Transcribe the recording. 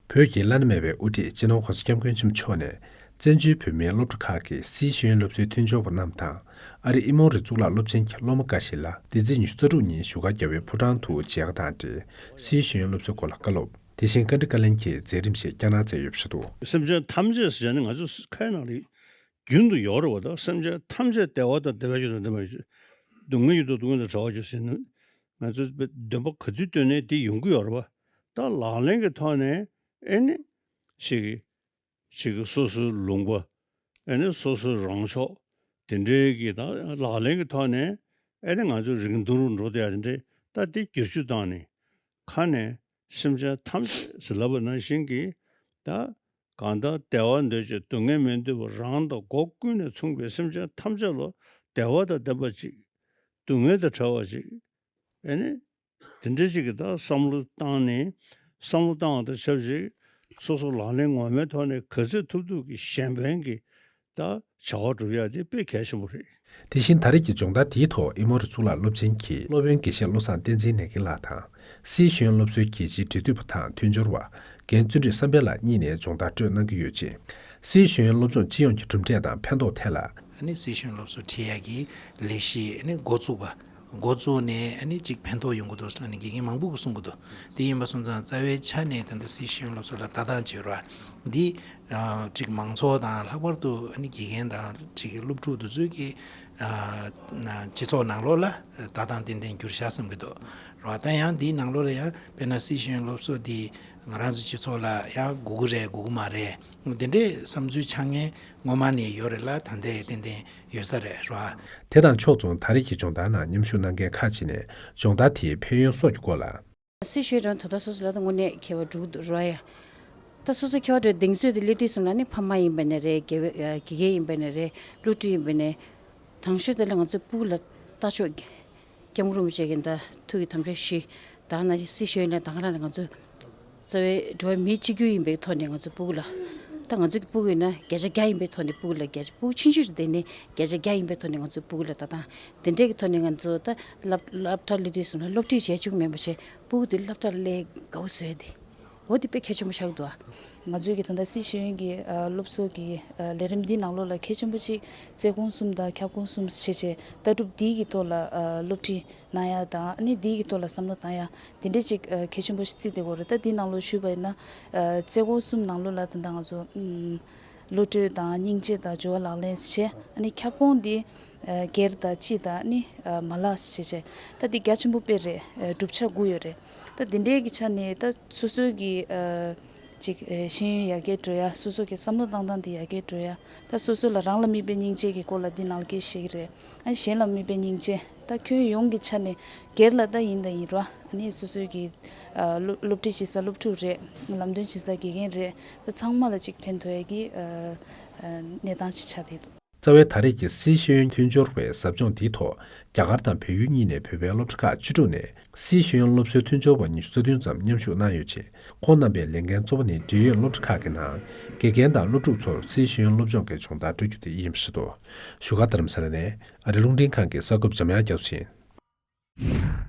བོད་ཀྱི་བླ་ན་མེད་པའི་དབུ་ཁྲིད་སྤྱི་ནོར་ཧོར་ཟི་སྐྱབས་མགོན་ཆེན་པོ་མཆོག་ནས། བཙན་བྱོལ་བོད་མིའི་སློབ་གྲྭ་ཁག་གི་སཱི་ཤེས་ཡོན་སློབ་གསོའི་མཐུན་སྦྱོར་བ་རྣམས་དང། ཨ་རིའི་ཨི་མོང་རི་གཙུག་ལག་སློབ་ཆེན་གྱི་སློབ་མ་འགའ་ཞིག་ལ་འདི་ཚེས་ཉི་ཤུ་རྩ་དྲུག་ཉིན་བཞུགས་སྒར་རྒྱ་བལ་ཕོ་བྲང་དུ་མཇལ་ཁ་དང་འབྲེལ་སཱི་ཤེས་ཡོན་སློབ་གསོའི་སྐོར་ལ་བཀའ་སློབ། དེ་བཞིན་བཀའ་འདྲི་བཀའ་ལན་གྱི་མཛད་རིམ་ཞིག་བསྐྱངས་གནང་མཛད་ཡོད་པ་ཞིག་འདུག། སེམས་ཅན་ཐམས་ཅད་ཟེར་བྱ་ནི་ང་ཚོ་ཁ་ཡི་ནང་རིག་རྒྱུན་དུ་ཡོད་རེད་བ་དང་སེམས་ཅན་ཐམས་ཅད་བདེ་བ་དང་བདེ་བའི་རྒྱུ་དང་བདེ་མོའི་རྒྱུ། སྡུག་བསྔལ་རྒྱུ་དང་སྡུག་བསྔལ་དང་བྲལ་བ་རྒྱུ་ཟེར་ནི་ང་ཚོས་འདོན་པ་ག་ཚོད་བཏོན་ནས་དེ་ཡོང་གི་ཡོད་རེད་བ། ད་ལག་ལེན་གྱི་ཐོག་ནས་ཨེ་ནི། ཞིག། ཞིག་སོ་སོའི་ལུང་པ། ཨེ་ནི་སོ་སོའི་རང་ཕྱོགས། དེ་འདྲའི་གི་ད་ལག་ལེན་གྱི་ཐོག་ནས་ཨེ་ནི་ང་ཚོས་རིང་ཐུང་རུ་འགྲོ་འདོད་ཡ་དེ་འདྲའི་ད་དེ་བསྒྱུར་བཅོས་བཏང་ནས། ཁ་ནས། སེམས་ཅན་ཐམས་ཅད་བྱིན་བརླབས་པ་ནང་བཞིན་གྱིས་དང། གང་དག་བདེ་བ་འདོད་ཅིང་སྡུག་བསྔལ་མི་འདོད་པ་རང་དང་སྒོ་ཀུན་ནས་མཚུངས་པའི་སེམས་ཅན་ཐམས་ཅད་ལ་བདེ་བ་དང་ལྡན་པ་ཅིག། སྡུག་བསྔལ་དང་བྲལ་བ་ཅིག། ཨེ་ནི། དེ་འདྲ་ཅིག་གི་དག་བསམ་བློ་བཏང་ནས། བསམ་བློ་བཏང་བ་དང་ཆབས་ཅིག་སོ་སོ་ལག་ལེན་ངོ་མའི་ཐོག་ནས་ག་ཚད་ཐུབ་ཐུབ་ཀྱིས་གཞན་ཕན་གྱི་དང་བྱ་བ་བསྒྲུབ་ཡ་དེ་དཔེ་གལ་ཆེན་པོ་རེད། དེ་བཞིན་ད་རེས་ཀྱི་སྦྱོང་བརྡར་དེའི་ཐོག་ཨི་མོ་རུ་གཙུག་ལག་སློབ་ཆེན་གྱི་སློབ་དཔོན་དགེ་བཤེས་བློ་བཟང་བསྟན་འཛིན་ནེ་གིན་ལགས་དང། སིའི་ཤོན་སློབ་གསོའི་རྒྱལ་སྤྱིའི་འབྲེལ་མཐུད་པ་དང་མཐུན་སྦྱོར་བ་རྒན་བརྩོན་འགྲུས་བསམ་འཕེལ་ལགས་གཉིས་ནས་སྦྱོང་བརྡར་སྤྲོད་གནང་གི་ཡོད་ཅིང། སིའི་ཤོན་སློབ་སྦྱོང་སྤྱི་ཡོངས་ཀྱི་གྲུབ་འབྲས་དང་ཕན་ཐོགས་ཐད་ལ། སིའི་ཤོན་སློབ་གསོ་འཕྲིན་ཡིག་གི་ལས་གཞིའི་འགོ་བཙུགས་པ། འགོ་བཙུགས་ནས་གཅིག་ཕན་ཐོགས་ཡོང་གི་འདུག་ཟེར་ནས་དགེ་རྒན་མང་པོ་གིས་གསུངས་ཀྱི་འདུག་དེ་ཡིན་པ་སོང་ཙང་རྩ་བའི་ཆ་ནས་ད་ལྟ་སྲིད་གཞུང་སློབ་གསོ་ལ་ལྟ་སྟངས་བྱེད་རོགས་འདི་གཅིག་མང་ཚོགས་དང་ལྷག་པར་དུ་དགེ་རྒན་དང་གཅིག་སློབ་ཕྲུག་འདི་ཚོས་ཀྱི་སྤྱི་ཚོགས་ནང་ལོགས་ལ་ལྟ་སྟངས་ཏན་ཏན་འགྱུར་བྱ་བསམ་གྱི་འདུག་རོགས་ད་ཡང་འདིའི་ནང་ལོགས་ལ་ཡང་དཔེར་ན་སྲིད་གཞུང་སློབ་གསོ་འདི་ང་རང་ཚོའི་སྤྱི་ཚོགས་ལ་ཡང་དགོས་ཀྱི་རེད་དགོས་ཀྱི་མ་རེད་འདི་འདྲའི་བསམ་ཚུལ་ཆགས་ངེས་སྔོན་མ་ནས་ཡོད་རེད་ལ་ད་ལྟའི་ཡང་ཏན་ཏན་ཡོད་ས་རེད་རོ་ཨ། དེ་དང་ཕྱོགས་མཚུངས་ད་རེས་ཀྱི་སྦྱོང་བརྡར་ནང་མཉམ་ཞུགས་གནང་མཁན་ཁག་ཅིག་ནས་སྦྱོང་བརྡར་དེའི་ཕན་ཡོན་སོགས་ཀྱི་སྐོར་ལ། སྲིད་ཞུའི་དོན་དུ་ད་སོ་སོ་ལ་ད་དངོས་གནས་མཁས་བ་དྲུག་འདུག་རོ་ཨ། ད་སོ་སོ་མཁས་བ་དྲུག་གདེང་ཚོད་དུ་སླེབས་དུས་གསུམ་ལ་ནི་ཕ་མ་ཡིན་པ་ནས་རེད་དགེ་བའི་དགེ་རྒན་ཡིན་པ་ནས་རེད་བློ་གྲོས་ཡིན་པ་ནས། དྲང་ཤོས་དེ་ལ་ང་ཚོས་སྤུག་ལ་ལྟ་ཆོག། སྐྱབས་འགྲོ་མི་བྱེད་ཀྱི་འདི་ཐུགས་ཀྱི་དམ་བཅའ་བཞི། དྭངས་སྣང་ཅན་སྲི་ཞུ་ཡོན་ཏན་དང་རང་ལ་ང་ཚོ། རྩ་བའི་འགྲོ་བ་མི་གཅིག་གྱུར་ཡིན་པའི་ཐོག་ནས་ང་ཚོ་སྤུག་ལ། ད་ང་ཚོ་གི་སྤུག་ཡོད་ན་བརྒྱ་ཆ་བརྒྱ་ཡིན་པའི་ཐོག་ནས་སྤུག་ལ་བརྒྱ་ཆ་སྤུག་ཕྱིན་ཅི་ལྟས་ནས་བརྒྱ་ཆ་བརྒྱ་ཡིན་པའི་ཐོག་ནས་ང་ཚོ་སྤུག་ལ་ད་ད། དེ་འདྲའི་གི་ཐོག་ནས་ང་ཚོ་ད་སླབ་སླབ་གྲྭ་སླེབས་དུས་སུ་སློབ་ཁྲིད་བྱས་བཅུག་མེད་པ་བྱས་སྤུག་དེ་སླབ་གྲྭ་སླེ་དགའ་བོ་བཟོས་ཏེ། འོ་དེ་དཔེ་གལ་ཆེན་པོ་ཤར་གི་འདུག་ང་ཚོའི་གི་ད་ལྟ་སྲིད་ཞུ་ཡོན་གི་སློབ་གསོ་གི་ལས་རིམ་འདིའི་ནང་ལོགས་ལ་གལ་ཆེན་པོ་གཅིག་རྩལ་གོང་གསུམ་དང་ཁྱབ་ཁོངས་གསུམ་བྱེད་ཆེད་ལྟ་གྲུབ་འདིའི་གི་ཐོག་ལ་སློབ་ཁྲིད་གནང་ཡ་དང་ནི་འདིའི་གི་ཐོག་ལ་བསམ་བློ་གཏང་ཡ་དེ་འདྲའི་གཅིག་གལ་ཆེན་པོ་བརྩིས་ཏེ་གོ་རེ་ད་འདིའི་ནང་ལོགས་ཞུས་པ་ཡིན་ན་རྩལ་གོང་གསུམ་ནང་ལོགས་ལ་ད་ལྟ་ང་ཚོ་བློ་གྲོས་དང་སྙིང་རྗེ་དང་སྦྱོར་བ་ལག་ལེན་བྱེད་ཨ་ནི་ཁྱབ་ཁོངས་འདི་སྒེར་དང་སྤྱི་དང་ནི་མ་ལག་བྱེད་ཆེད་ད་འདི་རྒྱ་ཆེན་པོ་དཔེ་རེད་གྲུབ་ཆ་དགུ་ཡོད་རེད། ད་འདི་འདྲའི་གི་ཆ་ནས་ད་སོ་སོའི་གི་ཅིག་ཤེས་ཡོན་ཡར་རྒྱས་འགྲོ་ཡ་སོ་སོ་གི་བསམ་བློ་བཏང་སྟངས་དེ་ཡར་རྒྱས་འགྲོ་ཡ་ད་སོ་སོ་ལ་རང་ལ་དམིགས་པའི་སྙིང་རྗེ་གི་སྐོར་ལ་འདི་ནང་ལ་གི་ཞིག་རེད་ཨ་ནི་གཞན་ལ་དམིགས་པའི་སྙིང་རྗེ་ད་ཁྱོན་ཡོངས་གི་ཆ་ནས་སྒེར་ལ་ད་ཡིན་དང་ཡིན་ར་ཨ་ནི་སོ་སོའི་གི་སློབ་ཁྲིད་བྱེད་ས་སློབ་ཕྲུག་རེད་ལམ་སྟོན་བྱེད་ས་དགེ་རྒན་རེད་ད་ཚང་མ་ལ་ཅིག་ཕན་ཐོགས་ཡ་གི་གནས་སྟངས་ཅིག་ཆགས་བསྡད་འདུག། རྩ་བའི་ད་རེས་ཀྱི་སཱི་ཤེས་ཡོན་མཐུན་སྦྱོར་བའི་ཟབ་སྦྱོང་འདིའི་ཐོག་རྒྱ་གར་དང་བལ་ཡུལ་གཉིས་ནས་བོད་པའི་སློབ་གྲྭ་ཁག་བཅུ་དྲུག་ནས་སཱི་ཤེས་ཡོན་སློབ་གསོའི་མཐུན་སྦྱོར་བ་ཉི་ཤུ་རྩ་བདུན་ཙམ་མཉམ་ཞུགས་གནང་ཡོད་ཅིང་ཁོང་རྣམ་པའི་ལས་འགན་གཙོ་བོ་ནི་འབྲེལ་ཡོད་སློབ་གྲྭ་ཁག་གི་ནང་དགེ་རྒན་དང་སློབ་ཕྲུག་ཚོར་སཱི་ཤེས་ཡོན་སློབ་སྦྱོང་གི་སྦྱོང་བརྡར་སྤྲོད་རྒྱུ་དེ་ཡིན་པ་ཞིག་ཏུ་བཞུགས་སྒར་དྷརྨ་ས་ལ་ནས་ཨ་རི་རླུང་འཕྲིན་ཁང་གི་གསར་འགོད་པ་འཇམ་དབྱངས་རྒྱ་མཚོ་ཡིན།